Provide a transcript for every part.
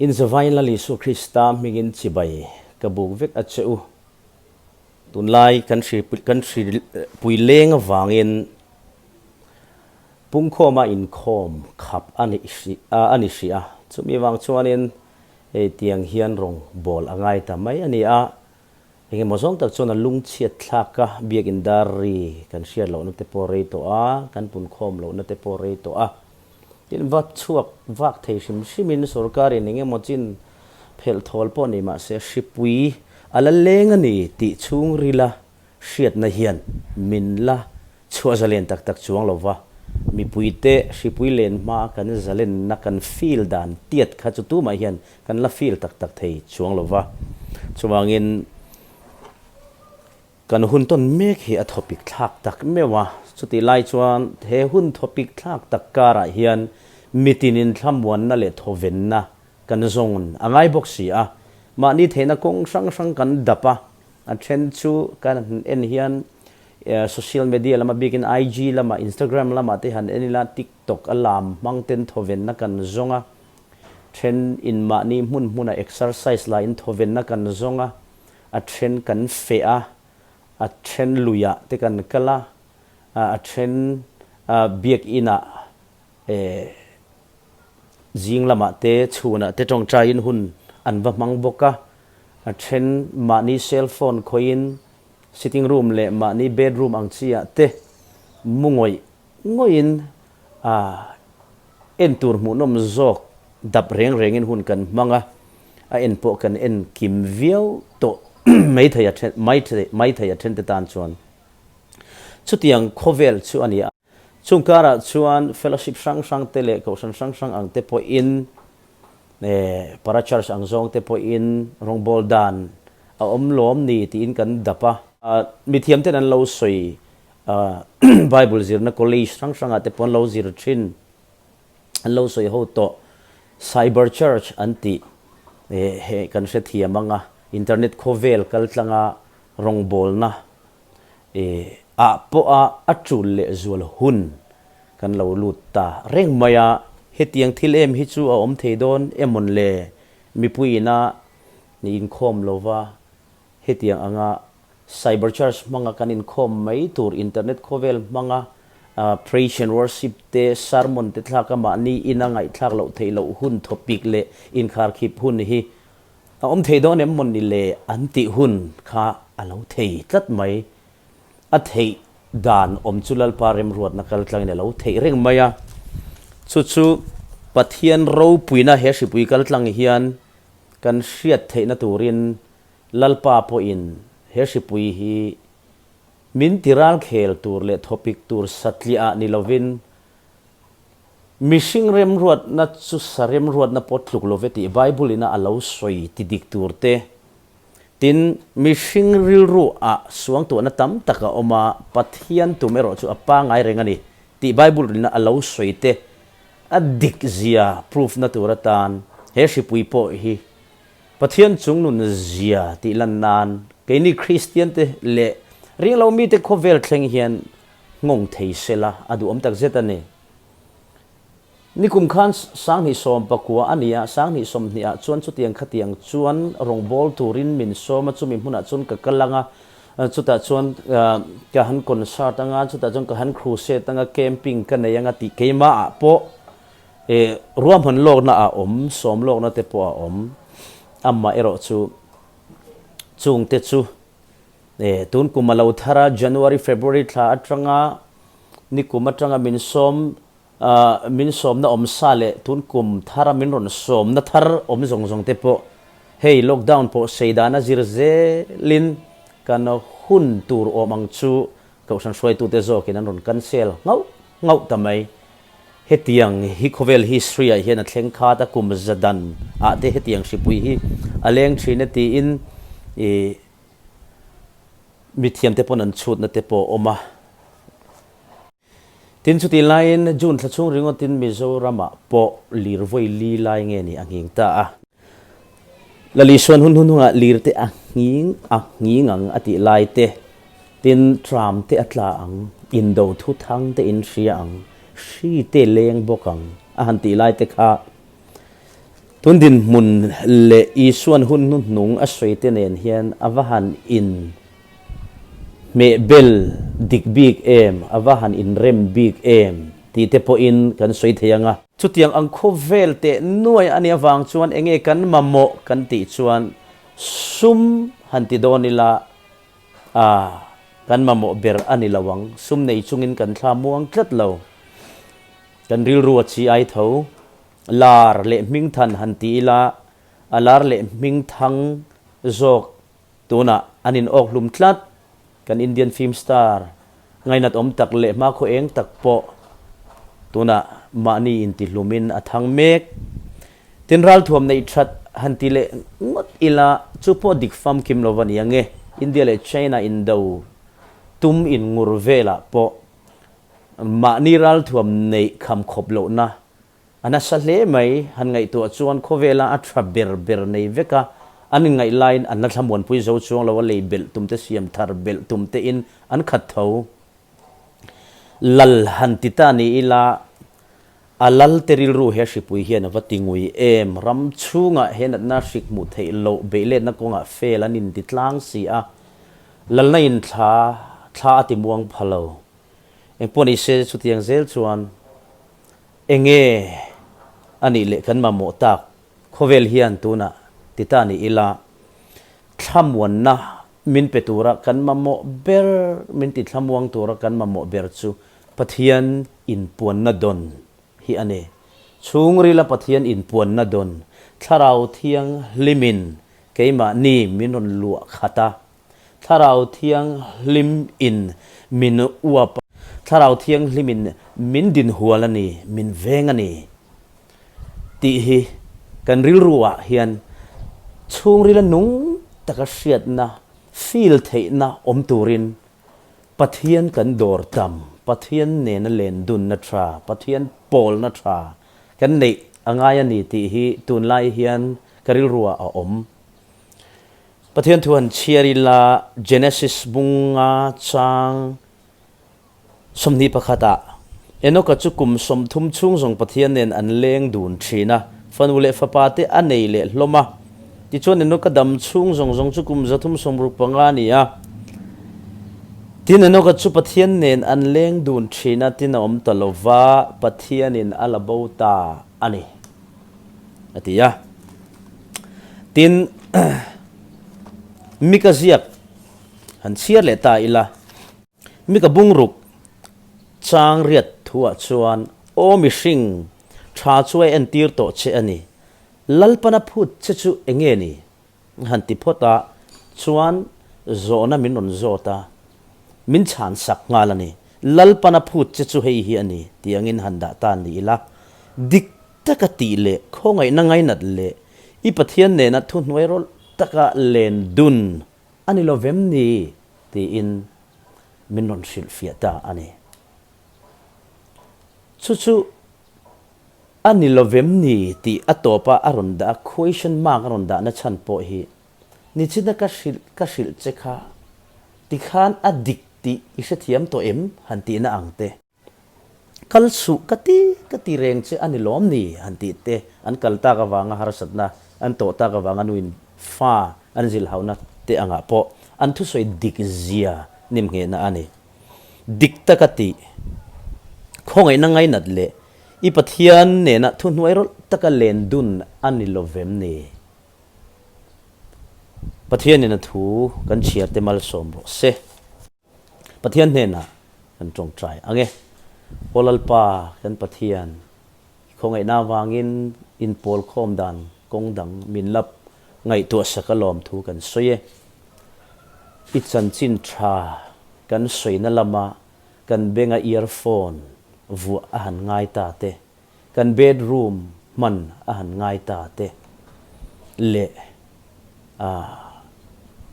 Inze vai ila Lisu Krista hmingin chibai ka buk vek a che u. Tunlai kan hri kan hri pui leng avangin pungkhawma inkhawm khap a nih hri a a ni hri a. Chumi vang chuanin hei tiang hian rawn bawl a ngai ta mai a ni a, Engemaw zawng tak chuan a lung chhiat thlak a, biakin dar ri kan hriat lohna te pawh rei tawh a, kan pun khawm lohna te pawh rei tawh a. Tin, va chhuak vak thei hrim hrimin sorkarin engemaw chin phelh thawl pawh ni mah se, hripui a la leng a ni tih chhung rila hriatna hian min la chhuah zalen tak tak chuang lo va. Mipuite hripui len hmaa kan zalenna kan feel dan tiat kha chu tumah hian Kan la feel tak tak thei chuang lo va, chuvangin kan hun tawn mek hi a thaw pik thlak tak meuh a, chuti lai chuan he hun thaw pik thlak tak karah hian mitin inthlamuanna leh thawvenna kan zawng a ngai bawk si a, mahni theihna kawng hrang hrang kan dap a, a then chu kan en hian social media lama bikin IG lama, Instagram lama te han en ila, TikTok a lam hmang ten thawvenna kan zawng a, Then in mahni hmun hmuna exercise la in thawvenna kan zawng a, a then kan feh a, a then luia te kan kal a, a then biak ina zing lamah te chhunah te tawngtai in hun an va hmang bawk a, a then mahni cell phone khawi in sitting room leh mahni bedroom ang chiah te mungawih ngawih in En tur hmuhnawm zawk dap reng rengin hun kan hmang a, a en pawh kan en kim viau tawh mai thei a then mai mai thei a then te tan chuan chutiang khawvel chu a ni a. Chung karah chuan fellowship hrang hrang te leh kohhran hrang hrang ang te pawhin eh para church ang zawng te pawhin rawngbâwl dan a awm lawm ni tiin kan dap a. Mithiam ten an lo sawi Bible zirna college hrang hrangah te pawh an lo zir thin, an lo sawi ho tawh. Cyber church an tih heh kan hrethiam ang a, internet khawvel kaltlanga rawngbawlna ah pawh a a tul leh zual hun kan lo lut ta reng mai a. Hetiang thil em hi chu a awm thei dawn emawn le? Mipui ina ni inkhawm lova hetiang anga Cyberchurch hmanga kan inkhawm mai tur internet khawvel hmanga Praise and Worship te, Sermon te thlak a mahni in a ngaihthlak loh theih loh hun thawpik leh inkharkhip hun hi a awm thei dawn em maw ni le an tih hun kha a lo thei tlat mai. A theih dan awm chu Lalpa remruatna kaltlangin a lo theih reng mai a, chu chu Pathian ropuina he hripui kaltlang hian kan hriat theihna turin Lalpa pawhin he hripui hi min ti ral khel tur leh thawpik tur satliah ni lovin mihring remruatna chu sa remruatna pawh tluk lo ve tih Bible-ina a lo sawi ti dik tur te. Tin, mihring rilruah-ah suangtuahna tam tak a awm a, Pathian tum erawh chu a pangngai reng a ni tih Bible rilna a lo sawi te a dik zia proof-na tur atan he hripui pawh hi Pathian chung nun a zia tih lan nan, keini Kristian te leh ringlo mite khawvel thleng hian nghawng thei sela a duhawm tak zet a ni. Nikum khan Sanghnih sawm pakua a ni a, Sanghnih sawmhnih ah chuan chutiang khatiang chuan rawngbawl turin min sawm a, chumi hmunah chuan ka kal anga, chutah chuan ka han concert anga, chutah chuan ka han crusade anga, camping ka nei anga tih keimah ah pawh E, ruahman lawkna a awm, sawm lawkna te pawh a awm. Amah erawh chu chungte chu e, tun kum a lo thar a, January, February thla atanga, ni kum atanga min sawm, ah, min sawmna awm sa leh tun kum thara min rawn sawmna thar awm zawng zawng te pawh hei lockdown pawh seidana zir zelin kan hun tur awm ang chu, Kohhran hruaitute zawkin an rawn cancel ngauh ngauh ta mai. Hetiang hi khawvel history-ah hian a thleng khat a, kum za dan ah te hetiang hripui hi a leng thin a tiin ih mithiam te pawn an chhut na te pawh awm a. Tin chuti laiin June thla chhung ringawtin Mizoram-ah pawh lirvawi li lai nge nih a nghing ta a. Lali chuan hun hun hunga lir te a nghing a nghing ang a tih lai te. Tin, tram te a tla ang, indo thu thang te in hria ang, hri te leng bawk ang a han tih lai te kha tun dinhmun leh Isuan hun hun hnung a sawi te nen hian a va han in Hmeh bel dik bik em, a va han inrem bik em tih te pawhin kan sawi thei ang a. Chutiang ang khawp vel teh nuai a nih avang chuan eng nge kan mamawh kan tih chuan sum han ti dawn ila aah kan mamawh ber a ni lo ang. Sum nei chungin kan thla muang tlat lo. Kan rilru a chhi ai tho. Lar leh hmingthan han ti ila a lar leh hmingthang zawk Tunah an in awk hlum tlat. Kan Indian film star ngainat awm tak leh hma khaw eng tak pawh tunah mahni intihlumin a thang mek. Tin ralthuam neih that han ti leh ngawt ila, chu pawh dik famkim lo va ni ang e. India leh China in do tum in ngur velah pawh mahni ralthuam neih kham khawp lohna A nasa hle mai, han ngaihtuah chuan khawvela a tha ber ber nei vek a, an inngaih laiin an la thlamuanpui zo chuang lo a, lei belh tumte siam thar belh tumtein an khat tho. Lal han ti ta ni ila, a lalte rilru he hripui hian a va ti ngui em? Ram chhungah he natna hrik hmuh theih loh beihletna kawngah fail an inti tlang si a, Lalna in thla thla a ti muang pha lo. Engpawh nise chutiang zel chuan. Enge a nih leh kan mamawh tak khawvel hian tunah ti ta ni ila, thlamuanna min pe tura kan mamawh ber, min tithlamuang tura kan mamawh ber chu Pathian inpuanna dawn hi a ni. Chhungrila Pathian inpuanna dawn Thlarau Thianghlimin keimahni min rawn luah khat a, Thlarau Thianghlim in min uap a. Thlarau Thianghlim in min dinhual a ni, min veng a ni tih hi kan rilru ah hian chhungril a nung taka hriatna, feel theihna awm turin Pathian kan dawr tam, Pathian nena len dunna tha, Pathian pawlna tha kan neih a ngai a ni tih hi tunlai hian ka rilru ah a awm. Pathian thu han chhiar ila Genesis bunga chang sawmhnih pakhata Enoka chu kum sawmthum chhung zawng Pathian nen an leng dun thin a, fanu leh fapate a nei leh hlawm a. Tichuan Enoka dam chhung zawng zawng chu kum zathum sawmruk panga a ni a. Tin, Enoka chu Pathian nen an leng dun thin a, tin a awm ta lova Pathianin a la bo ta a ni. a ti a. Tin, mika ziak han chhiar leh ta ila, mika bungruk changriat thuah chuan aw mihring, tha chu a entir tawh che a ni, Lalpana phut che chu enge ni? Han ti phawt a, chuan zawhna min rawn zawt a, min chhan sak nghal a ni. Lalpana phut che chu hei hi a ni tiangin han dah tan ni ila, dik taka tih leh khawngaihna ngainat leh i Pathian nena thuhnuai rawlh taka len dun a ni lovem ni? tiin min rawn hrilhfiah ta a ni. Chu chu. A ni lovem ni? tih a tawp a, a rawn dah a, question mark a rawn dahna chhan pawh hi ni china ka hrilh, ka hrilh che kha tikhan a dik tih i hrethiam tawh em? han tihna ang te. Kal suh ka ti, ka ti reng che a ni lawm ni? han tih te. An kal tak avanga harsatna, an tawh tak avanga nuin fa an zilhauhna te angah pawh an thusawi dik zia nim nghehna a ni. dik tak a tih, khawngaihna ngainat leh i Pathian nena thuhnuai rawlh taka len dun a ni lovem ni? Pathian nena thu kan chhiarte malsawm rawh se. Pathian hnena kan tawngtai ang e. Aw Lalpa, kan Pathian, I khawngaihna avangin inpawl khawm dan kawng dang min lap ngaihtuah sak alawm thu kan sawi e. I chanchin tha kan sawina lama kan benga earphone vuah a han ngai ta te, kan bedroom hman a han ngai ta te leh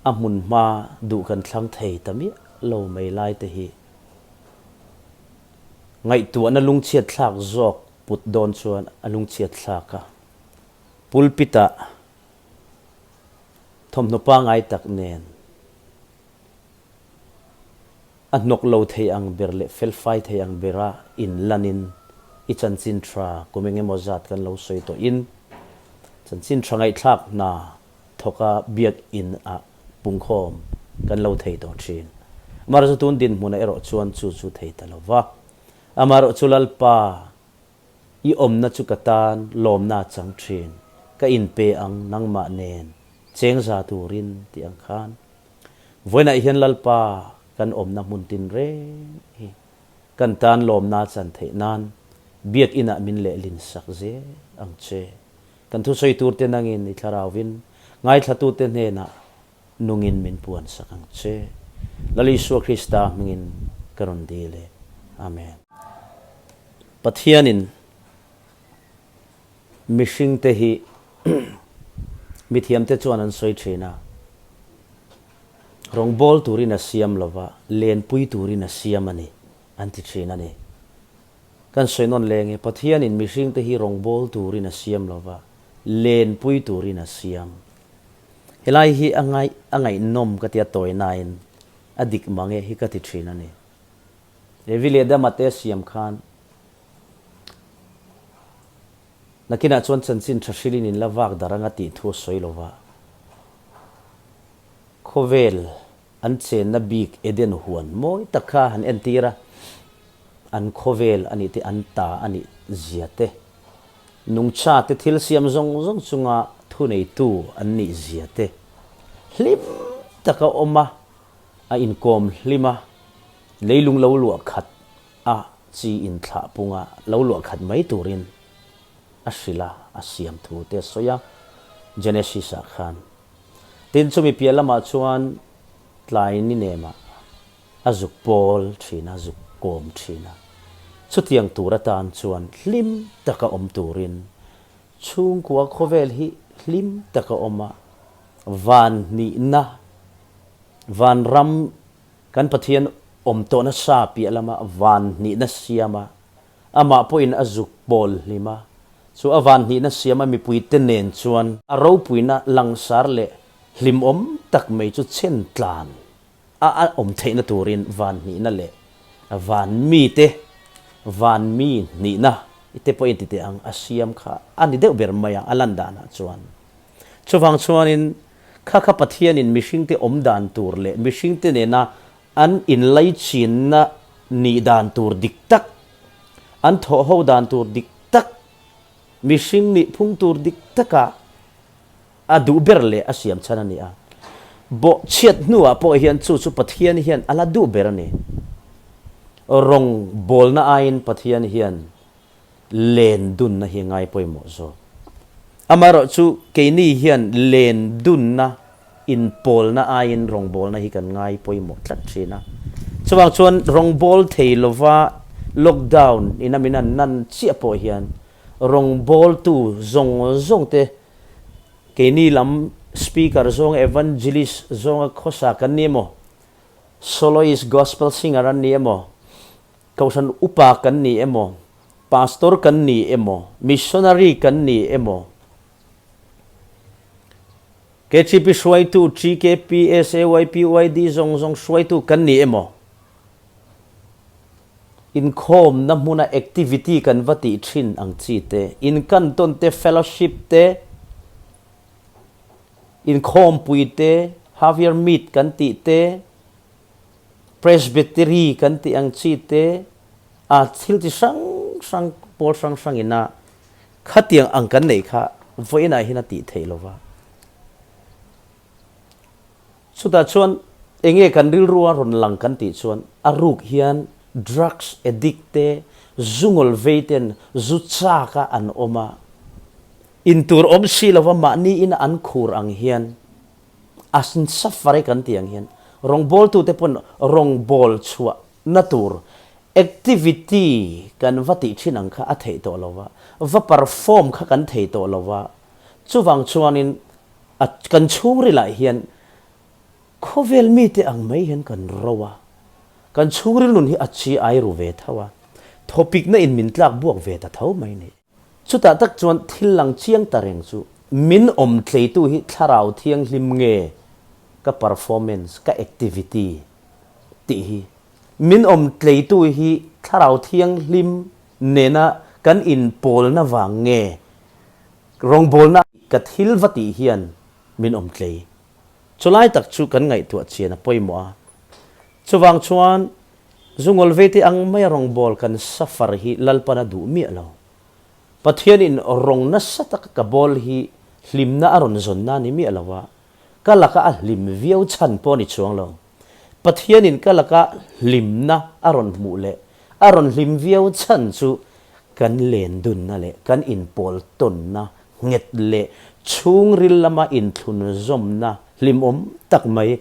a hmun hma duh kan thlang thei ta miah lo mai lai te hi, ngaihtuahna lungchhiatthlak zawk put dawn chuan a lungchhiatthlak a. Pulpit ah thawmhnaw pangai tak nen a hnawk lo thei ang ber leh felfai thei ang bera in lan in i chanchin tha kum eng emaw zat kan lo sawi tawh in chanchin tha ngaihthlak hna thawka biakinn ah pungkhawm kan lo thei tawh thin. Amah erawh chu tun dinhmun ah erawh chuan chu chu thei ta lo va. Amah erawh chu Lalpa, i awmna chu ka tan lawmna a chang thin, ka inpe ang nangmah nen chengza turin tih ang khan. Vawiinah hian Lalpa kan awmna hmun tinreng hi kan tan lawmna a chan theih nan biakinn ah min lehlin sak zel ang che. Kan thusawi turte nangin i thlarauvin ngaithlatute hnenah nungin min puan sak ang che. Lal Isua Krista hmingin ka rawn dil e. Amen. Pathianin mihringte hi mithiamte chuan an sawi thin a, rawngbâwl turin a siam lova lenpui turin a siam a ni. an ti thin a ni. Kan sawi nawn leng e, Pathianin mihringte hi rawngbâwl turin a siam lo va, lênpui turin a siam. Helai hi a ngai, a ngaihnawm ka tia tawi nain a dik mang e hi ka ti thin a ni. Levi leh Dama te a siam khan nakinah chuan chanchin ṭha hrilhin in la vâk dar anga tih thu a sawi lo va, khawvêl An chenna bik Eden huan mawi tak kha an entir a, an khawvel a nih te, an ta a nih zia te, nungcha te, thil siam zawng zawng chunga thuneitu an nih zia te hlim tak a awm a, a inkawm hlim a, leilung lo luah khat a chi inthlahpunga lo luah khat mai turin. a hrilh a, a siam thu te a sawi a, Genesis ah khan. Tin, chumi piah lamah chuan tlai ni nema a zuk pawl thin a, a zuk kawm thin a. Chutiang tur atan chuan hlim taka awm turin chhungkua khawvel hi hlim taka awm a, van hnihna, van ram kan Pathian awm tawh nasa piah lama van hnihna siama Amah pawhin a zuk pawl hlim a, chu a van hnihna siam a mipuite nen chuan a ropuina langsar leh hlimawm tak mai chu chhen tlan a a awm theihna turin van hnihna leh van mite van mi hnihna te pawhin titeh ang a siam kha a ni deuh ber mai a a lan danah chuan. Chuvang chuanin Khakha Pathianin mihringte awm dan tur leh mihringte nena An inlaichinna nih dan tur dik tak, an thawhho dan tur dik tak, mihring nih phung tur dik takah a duh ber leh a siam chhan a ni a. Bawhchhiat hnuah pawh hian chu chu Pathian hian a la duh ber a ni. Rawngbawlna aiin Pathian hian len dunna hi a ngai pawimawh zawk. Amaherawh chu keini hian len dunna inpawlna aiin rawngbawlna hi kan ngai pawimawh tlat thin a. Chuvang chuan rawngbâwl thei lova lockdown in a min an nan chiah pawh hian rawngbawltu zawng zawng te keini lam speaker zawnga evangelist zawnga khawsa kan ni emaw, soloist, gospel singer an ni emaw, Kohhran upa kan nih emaw, pastor kan nih emaw, missionary kan nih emaw, KCP hruaitu, GKP, SAYP, YD zawng zawng hruaitu kan nih emaw, inkhawmna hmuna activity kan va tih thin ang chi te, inkantawn te, fellowship te, inkhawmpui te, half year meet kan tih te, Presbytery kan tih ang chi te a thil chi hrang hrang pawl hrang hrang in a khatiang ang kan neih kha vawiin ah hian a tih theih lo va. Chutah chuan enge kan rilru a rawn lang kan tih chuan a ruk hian drugs addict te zungawl vei ten zu chak a an awm a, in tur awm si lo va mahni in an khur ang hian, a suffering kan tih ang hian rawngbawltu te pawn rawngbawlh chhuah na tur activity kan va tih thin ang kha a theih tawh lo va, va perform kha kan thei tawh lo va, chuvang chuanin a kan chhungrilah hian khawvel mite ang mai hian kan ro a, kan chhungril nun hi a chi ai ru ve tho a, thawpikna in min tlak buak ve ta tho mai ni. Chutah tak chuan thil lang chiang ta reng chu min awm tleitu hi thlarau thianghlim nge ka performance, ka activity tih hi min awm tleitu hi thlarau thianghlim nena kan inpawlna vang nge rawngbawlna ka thil va tih hian min awm tlei. Chulai tak chu kan ngaihtuah chian a pawimawh a. Chuvang chuan Zungawlveite ang maia rawngbâwl kan sa far hi lalpan a duh miah lo. Pathianin rawng nasa taka ka bâwl hi hlimna a rawn zawnna ni miah lo a, ka laka a hlim viau chhan pawh a ni chuang lo. Pathianin ka laka hlimna a rawn hmuh leh a rawn hlim viau chhan chu kan len dunna leh kan inpawl tawnna nghet leh chhungril lama inthlun zawmna hlimawm tak mai,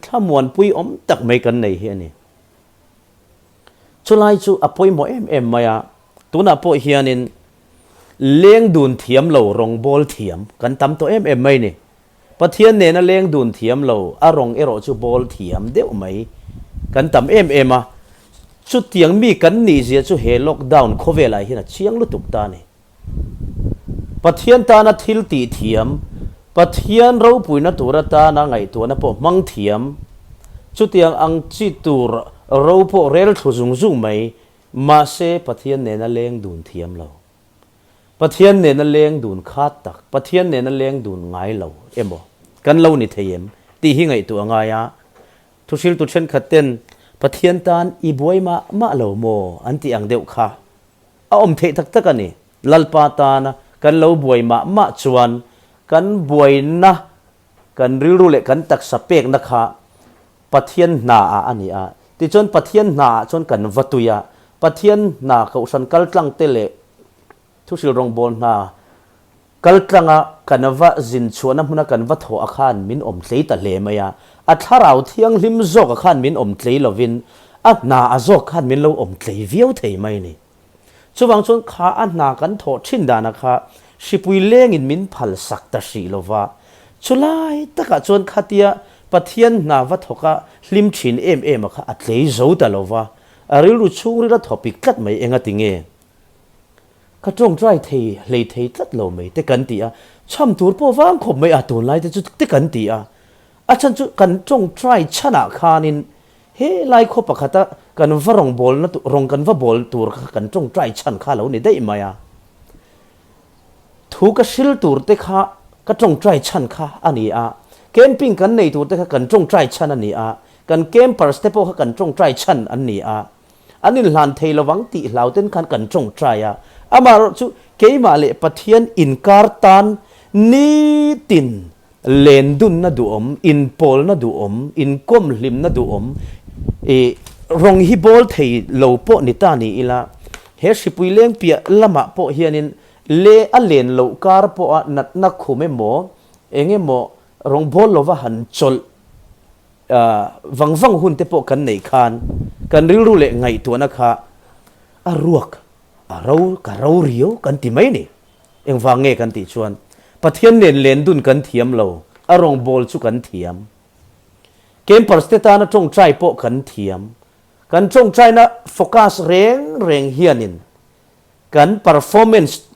thlamuanpui awm tak mai kan nei hi a ni. Chulai chu a pawimawh em em mai a, tunah pawh hianin leng dun thiam lo rawngbâwl thiam kan tam tawh em em mai a ni. Pathian nen a leng dun thiam lo, a rawng erawh chu bawl thiam deuh mai kan tam em em a, chutiang mi kan nih zia chu he lockdown khawvelai hian a chiang lutuk ta ni. Pathian tana thil tih thiam, Pathian ropuina tur atana ngaihtuahna pawh hmang thiam, chutiang ang chi tur ro pawh rel thlu zung zung mai, mahse Pathian nen a leng dun thiam lo. Pathian nena leng dun khat tak, Pathian nena leng dun ngai lo emaw kan lo ni thei em tih hi ngaihtuah a ngai a. Thuhriltu thenkhat ten Pathian tan i buai mah mah lo maw an tih ang deuh kha a awm theih tak tak a ni. Lalpa tana kan lo buai mah mah chuan kan buaina, kan rilru leh kan taksa pekna kha Pathian hna ah a ni a. Tichuan Pathian hna ah chuan kan va tui a. Pathian hna Kohhran kaltlang te leh Thusil Rawngbawl hna kaltlang a kan va zin chhuah na hmuna kan va thawh a khan min awm tlei ta hle mai a. A thlarau thianghlim zawk a khan min awm tlei lovin a hna a zawk khan min lo awm tlei viau thei mai a ni. Chuvang chuan kha a hna kan thawh thin dana kha hripui lengin min phalsak ta hrih lova, chulai takah chuan khatia Pathian hna va thawka hlim thin em em a kha a tlei zo ta lova, a rilru chhung ril a thawpik tlat mai engatinge ka tawng try thei hlei thei tlat lo mai te kan ti a, chham tur pawh vang khawp mai a tunlai te chu te kan ti a, a chhan chu kan tawng try chhan ah khanin He lai khaw pakhata kan va rawn bawlna tur, rawn kan va bawl tur kha kan tawngtai chhan kha a lo ni daih mai a. Thu ka hrilh tur te kha ka tawngtai chhan kha a ni a, camping kan nei tur te kha kan tawngtai chhan a ni a, kan campers te pawh kha kan tawngtai chhan an ni a. an inhlan thei lovang tih hlauten khan kan tawng try a, amaherawh chu keimah leh Pathian inkar tan nitin len dunna duhawm, inpawlna duhawm, inkawm hlimna duhawm ih rawng hi bawl thei lo pawh ni ta ni ila, he hripui lengpiah lamah pawh hianin le a len loh kar pawha natna khum emaw eng emaw Rawngbawl lova han chawlh vang vang hun te pawh kan nei khan kan rilru leh ngaihtuahna kha a ruak a ro ka ro rio kan ti mai ni. Engvang nge kan tih chuan Pathian nen len dun kan thiam lo, a rawngbawl chu kan thiam. Campers te tana tawngtai pawh kan thiam. Kan tawngtaina focus reng reng hianin kan performance,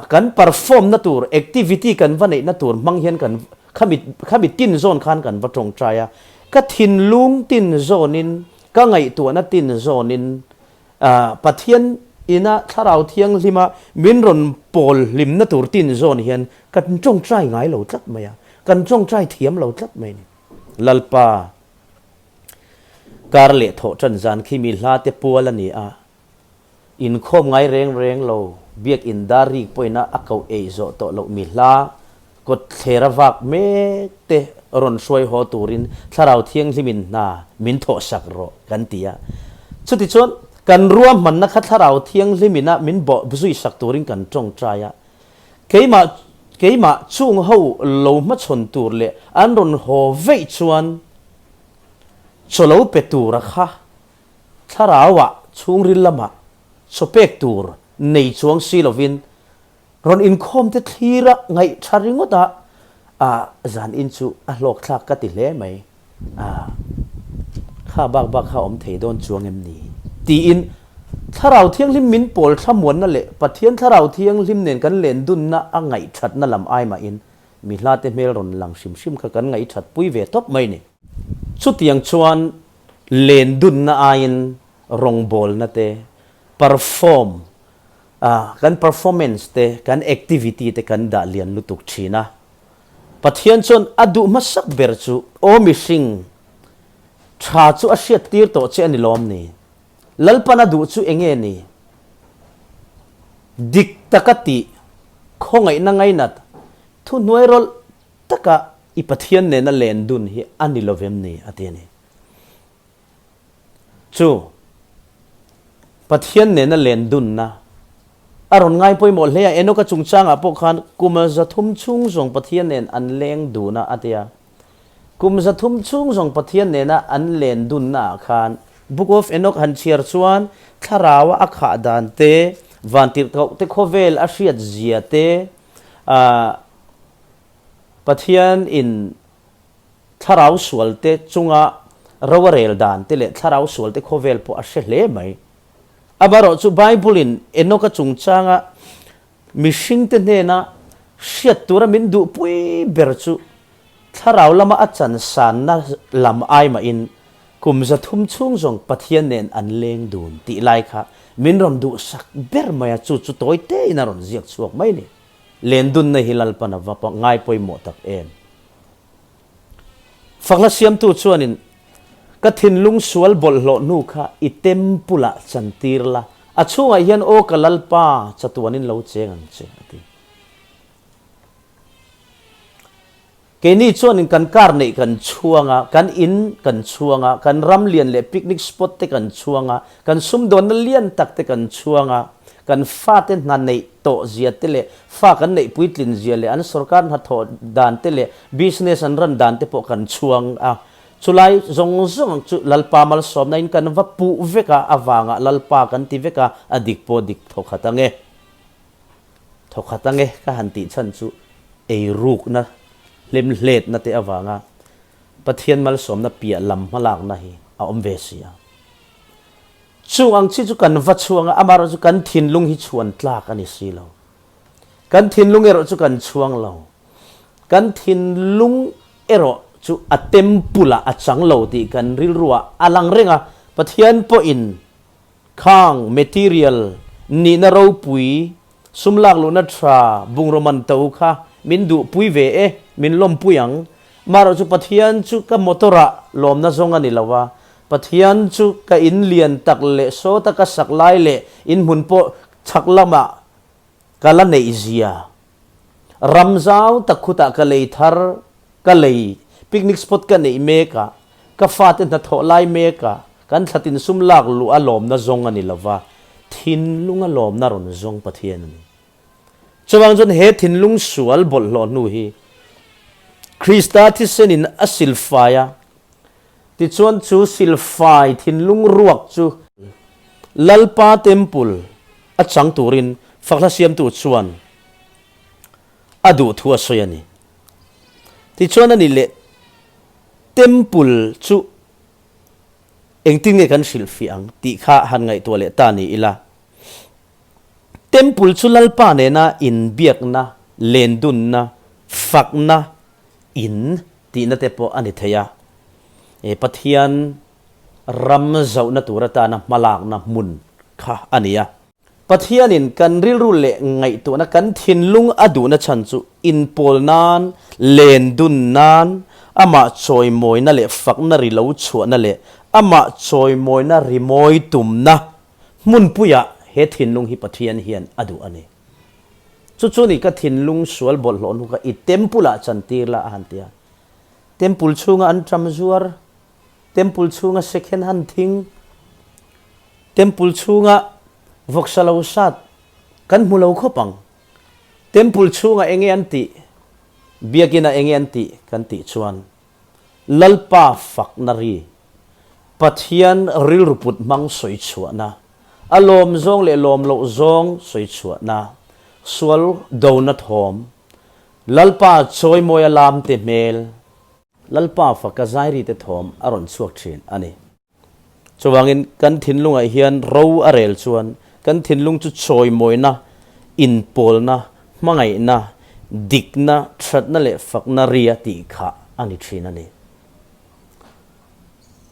kan perform na tur, activity kan va neihna tur hmang hian kan khamit khamit tin zawn khan kan va tawngtai a, ka thinlung tin zawnin, ka ngaihtuahna tin zawnin Pathian ina Thlarau Thianglima min rawn pawl hlimna tur tin zawn hian kan tawngtai ngai lo tlat mai a, kan tawngtai thiam lo tlat mai a ni. Lalpa kar leh thawh tan zan khi mi hla te pual a ni a, Inkhawm ngai reng reng lo, biakin dar rik pawhin a ko ei zawh tawh loh mi hla, kawttler a vak mek te rawn hruai haw turin Thlarau Thianghlim in hna min thawh sak rawh kan ti a. Chuti chuan kan ruahmanna kha Thlarau Thianghlim in a min bawh zui sak turin kan tawngtai a. Keimah keimah chung ho lo hmachhawn tur leh an rawn haw veih chuan chawlo pe tura kha Thlarauah chhungril lamah chaw pek tur nei chuang si lovin rawn inkhawmte thlira ngaih tha ringawta a zan in chu a hlawkthlak ka ti hle mai a, kha bak bak kha awm thei dawn chuang em ni? tiin Thlarau Thianghlim min pawl thlamuanna leh Pathian Thlarau Thianghlim nen kan lendunna a ngaihthatna lam ai mahin mi hlate hmel rawn lang hrim hrim kha kan ngaihthat pui ve tawp mai ni. Chutiang chuan len dunna aiin rawngbawlna te, perform, a, kan performance te, kan activity te kan dah lian lutuk thin a. Pathian chuan a duh hmasak ber chu aw mihring, tha chu a hriat tir tawh che a ni lawm ni? Lalpan a duh chu eng nge ni? Dik taka tih, khawngaihna ngainat, thuhnuai rawlh, takah i Pathian nena len dun hi a ni lovem ni? a ti a ni. Chu Pathian nena len dunna a rawn ngai pawimawh hle a, Enoka chungchangah pawh khan kum zathum chhung zawng Pathian nen an leng dun a, a ti a. Kum zathum chhung zawng Pathian nena an len dunnaah khan Book of Enok han chhiar chuan thlaraua a khah dan te, vantirhkohte khawvel a hriatzia te, a Pathian in thlarau sual te chunga rau a rel dan te leh thlarau sual te khawvel pawh a hre hle mai. Amarawh chu Bible in Enoka chungchanga mihring te hnena hriat tura min duh pui ber chu thlarau lama a chansanna lam ai mahin Kum zathum chhung zawng Pathian nen an leng dun tih lai kha min rawn duhsak ber mai a, chu chu tawi tein a rawn ziak chhuak mai ni. Lendunna hi Lalpan a va pawh ngai pawimawh tak em. Fakla siamtu chuanin, Ka thinlung sual bawlhhlawh hnu kha i temple ah chan tir la, a chhungah hian aw ka Lalpa chatuanin lo cheng ang che, a ti. Keini chuan in kan car neih kan chhuang a, kan in kan chhuang a, kan ram lian leh picnic spot te kan chhuang a, kan sumdawnna lian tak te kan chhuang a, kan fate hna neih tawh zia te leh fa kan neih puitlin zia leh an sorkar hnathawh dan te leh business an ran dan te pawh kan chhuang a. Chulai zawng zawng ang chu Lalpa malsawmna in kan va puh vek a avanga Lalpa kan ti vek a, a dik pawh dik tho khat ang e. Thaw khat ange ka han tih chhan chu ei rukna, hlemhletna te avanga Pathian malsawmna piah lam hmalakna hi a awm ve si a. Chung ang chi chu kan va chhuang a, amaherawh chu kan thinlung hi chhuan tlak a ni si lo. Kan thinlung erawh chu kan chhuang lo. Kan thinlung erawh chu a temple-ah a chang lo tih kan rilruah a lang reng a, Pathian pawhin. Khang, material, nihna ropui, sum lak luhna tha, bungraw man to kha min duh pui ve e, min lawm pui ang. Marawh chu Pathian chu ka motor ah lawmna zawng a ni lo a, Pathian chu ka in lian tak leh sawta ka sak lai leh in hmun pawh chhak lamah, Ka la neih zia. Ram zau tak khutah ka lei thar, ka lei, picnic spot ka neih mek a, ka fate hnathawh lai mek a, kan thla tinsum lak luh a lawmna zawng a ni lo va, thinlung a lawmna rawn zawng Pathian a ni. Chuvang chuan he thinlung sual bawlhhlawh hnu hi Krista thisen in a silfai a, Tichuan chu silfai thinlung ruak chu Lalpa Temple a chang turin Fakhla siamtu chuan a duh thu a sawi a ni. Tichuan a nih leh Temple chu engtin nge kan hrilh fiah ang tih kha han ngaihtuah leh ta ni ila, Temple chu Lalpa nena inbiakna, lendunna, fakna in. tihna te pawh a ni thei a, e Pathian ram zawhna tur atana hmalakna hmun kha a ni a. Pathianin kan rilru leh ngaihtuahna kan thinlung a duhna chhan chu inpawl nan, len dun nan, amah chawimawina leh fakna ri lo chhuahna leh amah chawimawina rimawi tumna hmunpuiah he thinlung hi Pathian hian a duh a ni. Chu chu nih ka thinlung sual bawlhhlawh hnuk a, i temple ah chan tir la a han ti a. Temple chhunga an ṭam zuar, temple chhunga second han thing, temple chhunga vawk sa lo sat kan hmu lo khawp ang. Temple chhungah enge an tih, biakinah enge an tih kan tih chuan. Lalpa fakna ri, Pathian rilruput hmang sawi chhuahna, a lawm zawng leh lawm loh zawng sawi chhuahna, sual dona thawm, Lalpa chawimawia lamte hmel, Lalpa faka zairite thawm a rawn chhuak thin a ni. Chuvangin kan thinlungah hian ro a rel chuan kan thinlung chu chawimawina, inpawlna, hmangaihna, dikna, thatna leh fakna ri a tih kha a ni thin a ni.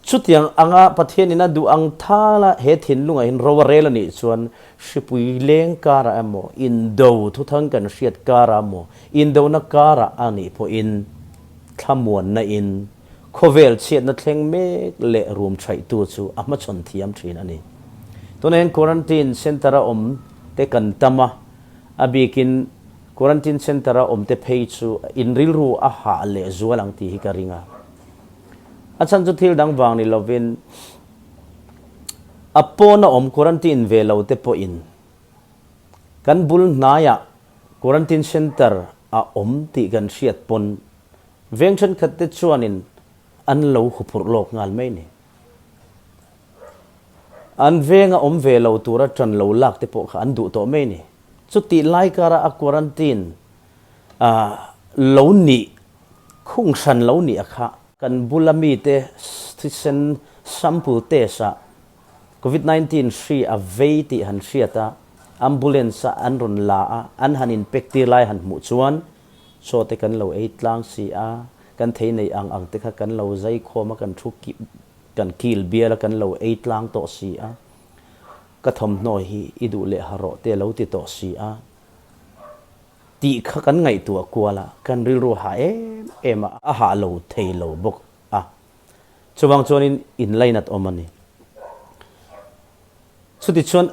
Chutiang anga Pathianin a duh ang thal a he thinlungah hian ro a rel a nih chuan hripui leng karah emaw, indo thuthang kan hriat karah emaw, indona karah a nih pawhin thlamuanna in, Khawvel chhiatna thleng mek leh rum thaihtu chu a hmachhawn thiam thin a ni. Tuna hian quarantine centre a awm te kan tam a, a bikin quarantine centre a awm te phei chu in rilru a hah leh zual ang tih hi ka ring a. A chhan chu thil dang vang ni lovin a pawn a awm quarantine ve lo te pawhin kan bul hnaiah quarantine centre a awm tih kan hriat pawn veng thenkhat te chuanin an lo huphurh lawk nghal mai ni. An venga awm ve lo tura tan lo lak te pawh kha an duh tawh mai ni. Chutih lai kara a quarantine a lo nih khung hran lo nih a khah. Kan bula mite thisen sample test ah Covid nineteen hri a vei tih han hriat a, ambulance ah an rawn la a, an han inpek tir lai han hmuh chuan, Chaw te kan lo ei tlang si a, kan thei neih ang ang te kha kan lo zai khawm a, kan thu kip, kan kil bial a, kan lo ei tlang tawh si a, ka thawmhnaw hi i duh leh ha rawh teh lo ti tawh si a tih kha kan ngaihtuah kual a, kan rilru ha em em a, a hah lo thei lo bawk a, chuvang chuan in inlainat awm a ni. Chutichuan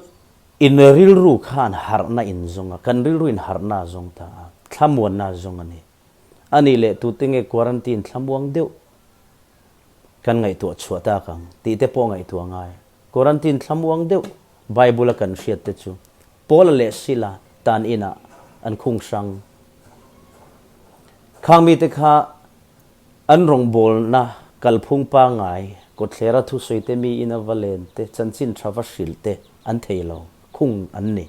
In rilru khan harhna in zung a, kan rilru in harhna a zawng ta a, thlamuanna a zawng a ni. A nih leh tute nge quarantine thlamuang deuh kan ngaihtuah chhuah tak ang tih te pawh ngaihtuah ngai. Quarantine thlamuang deuh Bible a kan hriat te chu Paula leh Sila tan inah an khung hrang. Khang mite kha An rawngbawlna kalphung pangai kawtthler a thusawiite mi ina va lente, chanchin tha va hrilhte an thei lo khung an ni.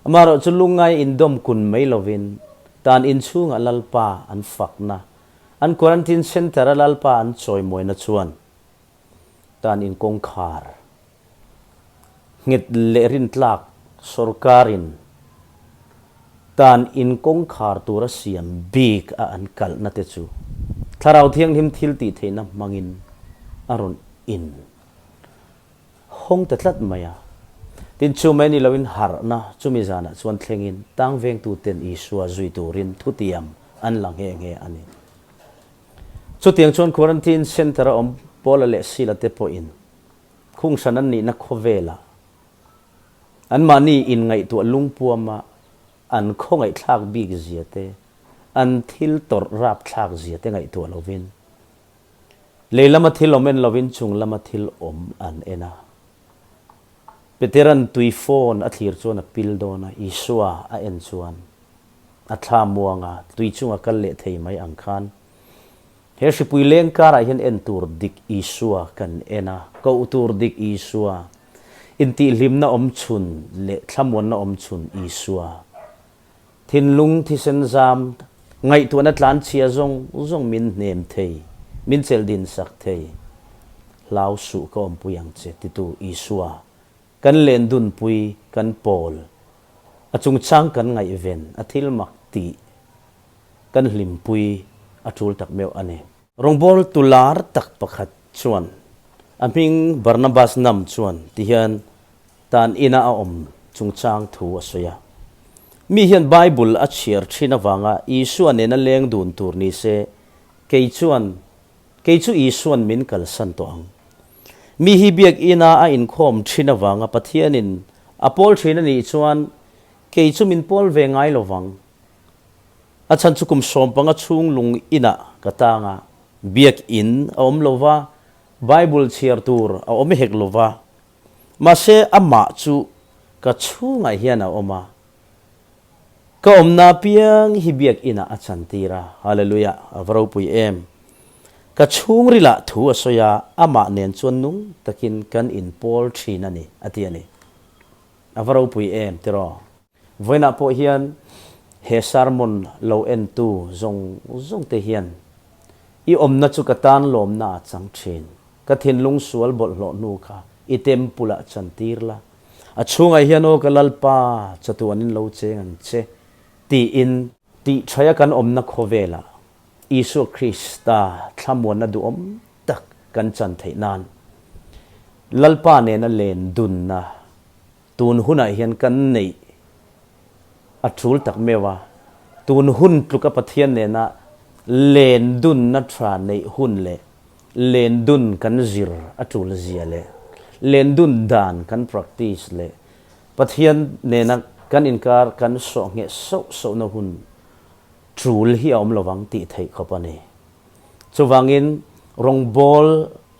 Amaherawhchu lungngai indawm kun mai lovin tan inchhungah Lalpa an fakna, an quarantine centre-a Lalpa an chawi mawina chuan tan inkawngkhar, nghet leh rin tlak sorkarin tan in kawngkhar tura siam bik a an kalhna te chu Thlarau Thianghlim thil tih theihna hmangin a rawn in hawng ta tlat mai a. Tin chu mai ni loin harhna chumi zanah chuan thlengin tang vengtu ten Isua zui turin thutiam an la nghe nghe a ni. Chutiang chuan quarantine center a awm Paula leh Sila te pawhin Khungsan an nihna khawvelah anmahni inngaihtuah lungpuama an khawngaihthlak bik zia te, an thil tawrh rapthlak zia te ngaihtuah lovin, leilama thil awm en lovin chung lama thil awm an en a. Peteran tui phone a thlir chuan a pil dawn a, Isua a en chuan a thla muanga tui chunga kal leh thei mai ang khan, He hripui leng karah hian en tur dik Isua kan en a, koh tur dik Isua, intihhlimna awm chhun leh thlamuanna awm chhun Isua, thinlung thisen zam, ngaihtuahna tlanchhia zawng zawng min hnem thei, min chelh dinsak thei, hlau suh ka awmpui ang che titu Isua, Kan lendunpui, kan pawl, a chungchang kan ngaihven, a thil mak tih kan hlimpui a tul tak meuh a ni. Rawngbawl tu lar tak pakhat chuan a hming Barnabas Nam chuan ti hian tan ina a awm chungchang thu a sawi a, Mi hian Bible a chhiar thin avanga Isua nena leng dun tur ni se, kei chuan Kei chu Isuan min kalsan tawh ang. Mi hi Biakina a inkhawm ṭhin avanga Pathianin a pawl ṭhin a nih chuan kei chu min pawl ve ngai lo vang. A chhan chu kum sawm panga chhung lung inah ka tang a, Biak in a awm lova, Bible chhiar tur a awm hek lova. Mahse amah chu ka chhungah hian a awm a, ka awmna apiang hi Biakina a chan tir a. Hallelujah! A va ropui em? Ka chhungrilah thu a sawi a, amah nen chuan nung takin kan inpawl thin a ni, a ti a ni. A va ropui em tiraw? Vawiinah pawh hian he sermon lo entu zawng zawng te hian i awmna chu ka tan lawmna a chang thin. Ka thinlung sual bawlhhlawh hnu kha i temple ah chan tir la, a chhungah hian aw ka Lalpa chatu an in lo cheng ang che tiin, tihṭhaia kan awmna khawvela Isua Krista thlamuanna duhawm tak kan chan theih nan Lalpa nena len dunna Tun hunah hian kan neih a tul tak meuh a, tun hun tluka Pathian nena len dunna tha neih hun leh len dun kan zir a tul zia leh len dun dan kan practice leh Pathian nena kan inkar kan sawh ngheh sauh sauhna hun tul hi a awm lovang tih theih khawp a ni. Chuvangin rawngbâwl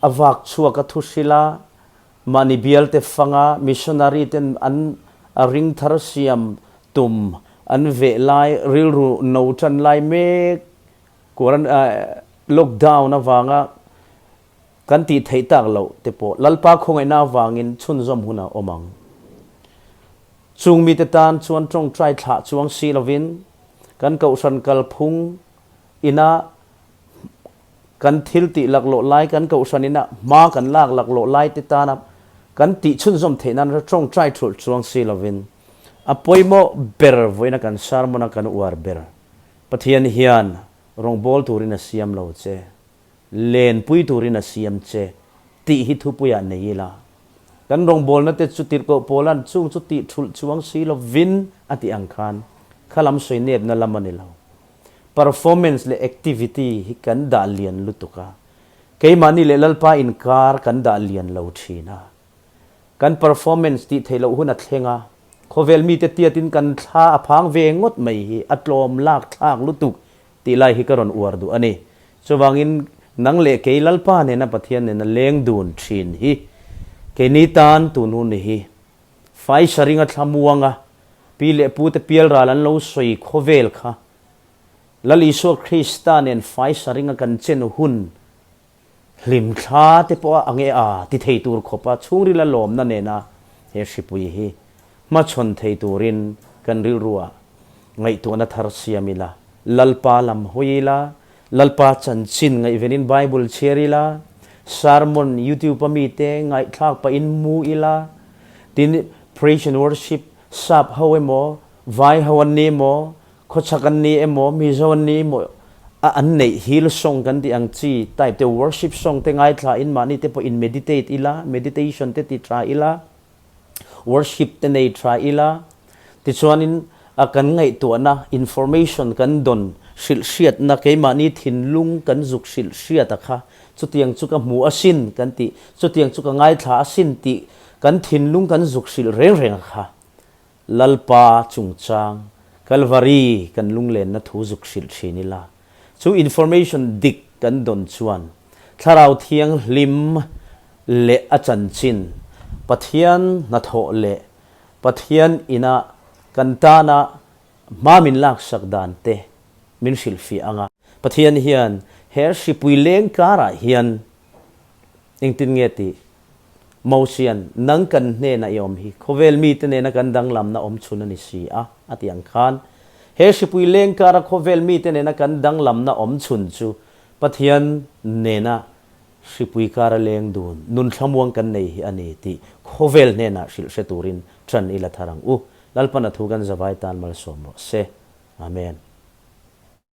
a vâk chhuaka thuhrila Mahni bialte fanga missionary ten an ring thar siam tum an veh lai rilru no tan lai mek quaran lockdown avanga kan tih theih tak lo te pawh Lalpa khawngaihna avangin chhunzawm huna awm ang. Chung mite tan chuan tawngtai thlah chuang si lovin kan Kohhran kalphung ina kan thil tih laklawh lai, kan kohhranin a hma kan lak laklawh lai te tana kan tih chhunzawm theih nan ra tawng try thulh chuang si lovin a pawimawh ber vawiin a kan sermon a kan uar ber. Pathian hian rawngbâwl turin a siam lo che, len pui turin a siam che tih hi thupuiah nei ila, kan rawngbâwlna te chu tirhkoh pawla an chûng chu tih thulh chuang si lovin a tih ang khan khalam sawi nepna lam a ni lo. performance leh activity hi kan dah lian lutuk a, keimahni leh Lalpa inkar kan dah lian lo thin a. Kan performance tih theih loh hun a thleng a, khawvel mite tiatin kan thla a phang ve ngawt mai hi a tlawm lak thlak lutuk tih lai hi ka rawn uar duh a ni. Chuvangin nang leh kei Lalpa nena Pathian nena leng dun thin hi keini tan tunun hi Faisa ringa thla muanga pi leh pute pialral an lo sawi khawvel kha Lal Isua Krista nen faisa ringa kan chenu hun hlimthla te pawha a nge a ti thei tur khawpa chhungril a lawmna nena he hripui hi hmachhawn thei turin kan rilruah ngaihtuahna thar siam ila Lalpa lam hawi ila Lalpa chanchin ngaihvelin Bible chhiar ila, sermon YouTube-a mite ngaihthlak pahin mu ila, tin Praise and Worship sap ho emaw, vai ho an nih emaw, khawchhak an nih emaw, mizo an nih emaw, a an neih hil song kan tih ang chi type te, worship song te ngaithla in mahnite pawh in meditate ila, meditation te ti tha ila. worship te nei tha ila, tichuanin a kan ngaihtuahna information kan dawn hrilh hriatna keimahni thinlung kan zuk hrilh hriat a kha chutiang chu ka hmu asin kan tih, chutiang chu ka ngaithla asin tih kan thinlung kan zuk hrilh reng reng a kha. Lalpa chungchang Calvary kan lunglenna thu zuk hrilh thin ila, chu information dik kan dawn chuan Thlarau Thianghlim leh a chanchin Pathian hnathawh leh Pathian inah kan tana hma min laksak dan te min hrilhfiah ang a. Pathian hian he hripui leng karah hian engtin nge tih Mosian, nang kan hnenah i awm hi, khawvel mite nena kan danglamna awm chhun a ni si a, a tih ang khan, he hripui leng kara khawvel mite nena kan danglamna awm chhun chu Pathian nena hripui kara leng dun, nun thlamuang kan nei hi a ni tih khawvel hnenah hrilh hre turin ṭan i la thar ang u. Lalpana thu kan zavai tan malsawm rawh se. Amen.